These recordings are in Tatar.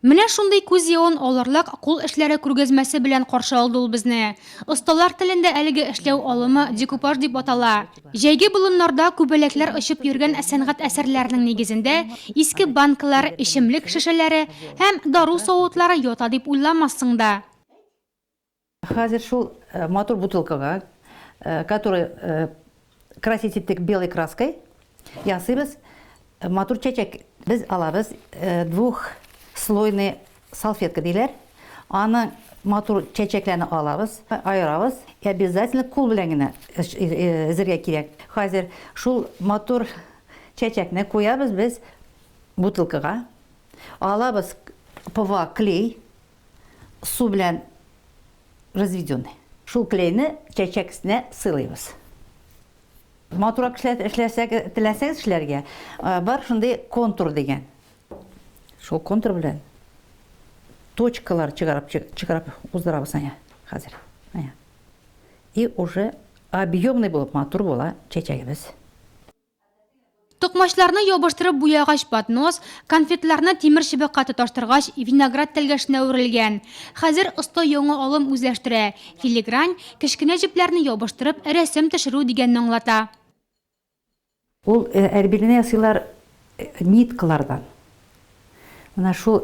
Менә шундый күз явын алырлык кул эшләре күргәзмәсе белән каршы алды ул безне. Осталар телендә әлеге эшләү алымы декупаж дип атала. Җәйге болыннарда күбәләкләр очып йөргән сәнгать әсәрләренең нигезендә иске банкалар, эчемлек шешәләре һәм дару савытлары ята дип уйламассың да. Хәзер шул матур бутылкага, который красить иттек белой краской, ясыйбыз, матур чәчәк. Без алабыз двухслойный салфетка диләр, аны матур чәчәкләрне алабыз, аерабыз, и обязательно кул белән генә өзергә кирәк. Хәзер шул матур чәчәкне куябыз без бутылкага, алабыз ПВА клей, су белән разведенный. Шул клейны чәчәк өстенә сыйлыйбыз. Матуррак теләсәгез эшләргә, бар шундый контур дигән. Шул контур белән точкалар чыгарып уздырабыз әнә хәзер. И уже объемный булып матур була чәчәгебез. Токмачларны ябыштырып буягач поднос, конфетларны тимер чыбыкка тоташтыргач виноград тәлгәшенә әверелгән. Хәзер оста яңа алым үзләштерә, филигрань, кечкенә җепләрне ябыштырып рәсем төшерү дигәнне аңлата. Ул әрбилне ясыйлар ниткалардан. Менә шул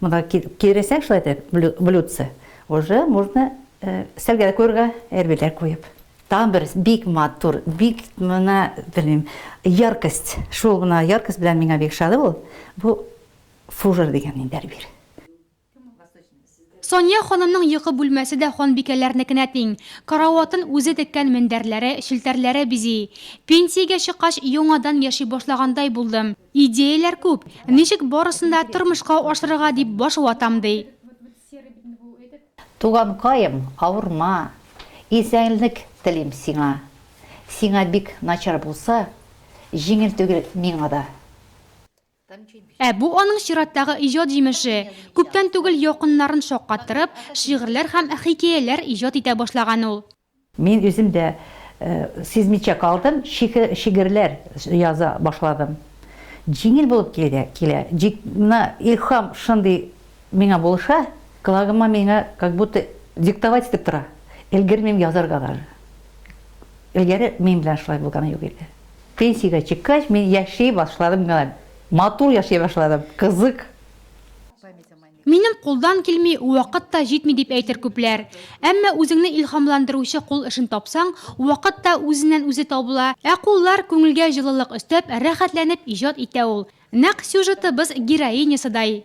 Монда киерәсәң шулай итеп блюдце, уже можно өстәлгә куярга әрбиләр куеп. Тагын бер бик матур, бик менә белмим, яркость. Шул гына яркость белән миңа бик ошады бу. Бу фужер дигән инде әрбил. Сания ханымның йокы бүлмәсе дә ханбикәләрнекенә тиң. Караватын үзе теккән мендәрләре, челтәрләре бизи. Пенсиягә чыккач, яңадан яши башлагандай булдым. Идеяләр күп, ничек барысын да тормышка ашырырга дип баш ватам, ди. Туганкаем, авырма, исәнлек телим сиңа. Сиңа бик начар булса, җиңел түгел миңа да. Ә бу аның чираттагы иҗат җимеше. Күптән түгел якыннарын шаккаттырып, шигырьләр һәм хикәяләр иҗат итә башлаган ул. Мин үзем дә сизмичә калдым, шигырьләр яза башладым. Җиңел булып килә, җик менә илһам шундый миңа булыша, колагыма миңа как будто диктовать итеп тора. Өлгермим язарга даже. Элгәре мин белән шулай булганы юк иде. Пенсиягә чыккач, мин яши башладым гына. Матур яши башладым, кызык. Минем кулдан килми, вакыт та җитми дип әйтер күпләр. Әмма үзеңне илһамландыручы кул эшен тапсаң, вакыт та үзеннән-үзе табыла, ә куллар күңелгә җылылык өстәп, рәхәтләнеп иҗат итә ул. Нәкъ сюжетыбыз героинясыдай.